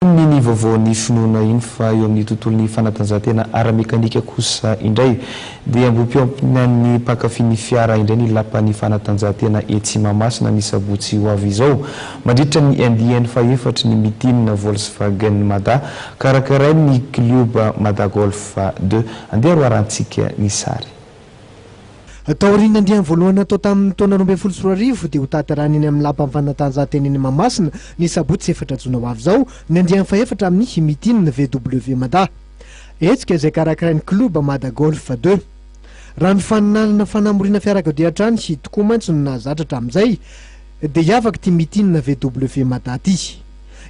Inona iny vaovaon'ny finoana iny fa eo amin'ny tontolon'ny fanatanjahantena ara-mekanika kosa indray dia ambohimpiompiny an'ny mpankafy ny fiara indray ny lapan'ny fanatanjahantena etsy Mahamasina ny sabotsy ho avy izao mandritra ny andiany fahefatry ny meeting Volkswagen Mada karakarain'ny klioba Madagolf deux andeha roarantsika ny sary. Taorian'ny andiany voalohany natao tamin'ny taona roa ambin'ny folo sy roa arivo dia hotanterahina eny amin'ny Lapan'ny Fanatanjahantena eny Mahamasina ny sabotsy efatra jona ho avy izao ny andiany fahefatra amin'ny Meeting VW Mada. Hetsika izay karakarain'ny Club Mada Golf deux. Raha ny faninanana fanamoriana fiarakodia hatrany tokoa mantsy no nahazatra hatramin'izay dia hiavaka ity Meeting VW Mada ity.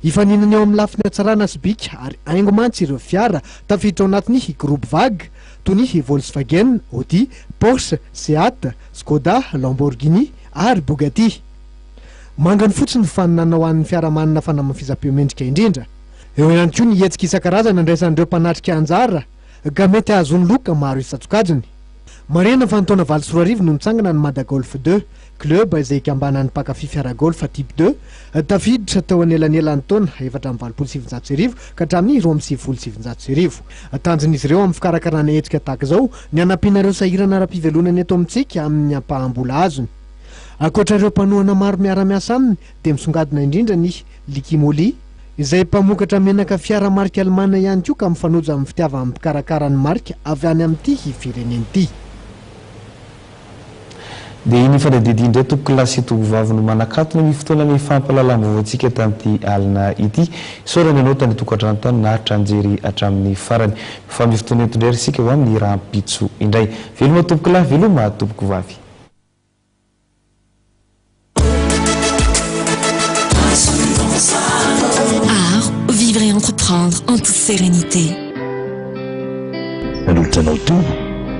Hifaninana eo amin'ny lafiny hatsarana sy bika ary haingo mantsy ireo fiara tafiditra ao anatin'ny Groupe Vag toy ny Volkswagen, Audi, Porsche, Seat, Skoda, Lamborghini ary Bugatti. Mangany fotsiny ny faninanana ho an'ny fiarahamanina fanamafisam-peo mendrika indrindra. Eo ihany koa ny hetsika isan-karazany andraisan'ireo mpanatrika anjara ka mety hahazoany loka maro isan-tsokajiny. Marihana fa ny taona valo sy roa arivo no nitsangana ny Mada Golf Deux. Club izay ikambanan'ny mpankafy fiara-golf Type deux, tafiditra tao anelanelan'ny taona efatra amby valopolo sy sivinjato sy arivo ka hatramin'ny roa amby sivifolo sy sivinjato sy arivo. Tanjon'izy ireo amin'ny fikarakarana hetsika tahaka izao ny hanampiana ireo sahirana ara-pivelonana eto amintsika amin'ny ampaham-bola azony. Ankoatra ireo mpanohana maro miara-miasa aminy dia misongadina indrindra ny Likimoli, izay mpamokatra menaka fiara marika alemana ihany koa ka mifanojo amin'ny fitiavan'ny mpikarakara ny marika avy any amin'ity firenena ity. Dia iny fanadidy iny indray tompoko lahy sy tompoko vavy no manakatona ny fotoana nifampahalalam-baovaontsika tamin'ity alina ity. Isaorana ianao tany an-tokantrano tany naharitra nijery hatramin'ny farany. Mifampy fotoana eto indray ry isika ho amin'ny rahampitso indray. Veloma tompoko lahy, veloma tompoko vavy. Art, vivre et entreprendre en toute sérénité. Nanolotra anao teo.